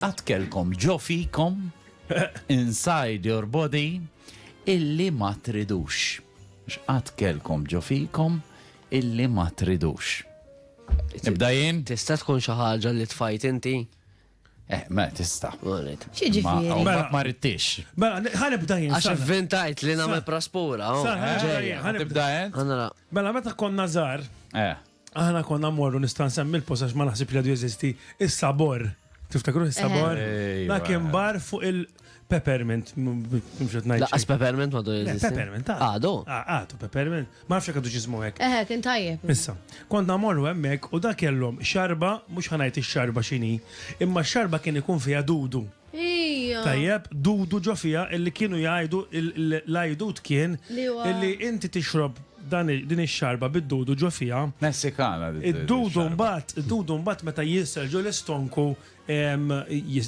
Għad kellkom ġo fikom, inside your body, illi ma tridux. X'għad kellkom ġo fikom illi ma tridux. Nibda jien? Tista' tkun xi ħaġa li tfajt inti? Eh, ma tista. Xieġifiri? Ma mela. rittix. Mela, ħanibda jien. Għax vintajt li namel praspura. Oh. Ġeja, ħanibda jien. Mela, meta konna zar. Eh. Aħna konna morru nista' nsemmi l-post għax ma naħsibx li għadu jeżisti is-sabor. Tiftakru is-sabor? Ejwa. Dak kien bar fuq il-peppermint, mxet ngħid. Laqqas xejn. peppermint ma Le, dojżis. Peppermint, għadu. Għadu. Ah, Għadu peppermint. Ma nafx jekk għadu ġismu hekk. Eħe, kien tajjeb. Issa, konna morru hemmhekk u dak kellhom xarba, mhux ħanajt ix-xarba x'inhi, imma x-xarba kien ikun fiha dudu. Ija. Tajjeb, dudu ġo fiha illi kienu jgħidu l-għajdut kien illi inti tixrob din ix-xarba bid-dudu ġo fiha. Messikana din. Id-dudu mbagħad, id-dudu mbagħad meta jinsel ġo l-istonku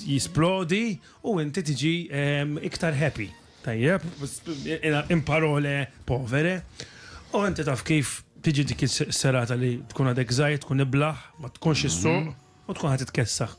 jisplodi u inti tiġi iktar happy. Tajjeb, in parole povere. U inti taf kif tiġi dik is-serata li tkun għadek żgħir, tkun iblah, ma tkunx is-suq u tkun ħa titkessaħ.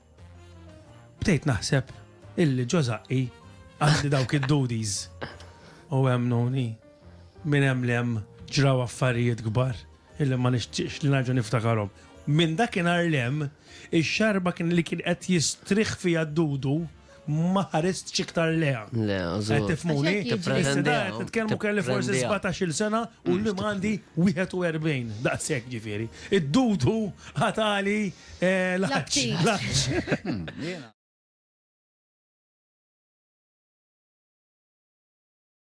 Bdejt naħseb illi ġo zaqqi għandi dawk id-dudies. U għemnuni, minn hemm li hemm ġraw affarijiet kbar illi ma nixtieqx li narġa' niftakarom. Minn dakinhar l-hemm, ix-xarba kien li kien qed jistrih fija d-dudu ma ħaristx iktar lejha. Le, żgur. Qed tifhmuni? Tippretendiha. Qed nitkellmu kelli forsi 17-il sena u llum għandi 41, daqshekk ġifieri. Id-dudu qatagħli l-ħaġġ.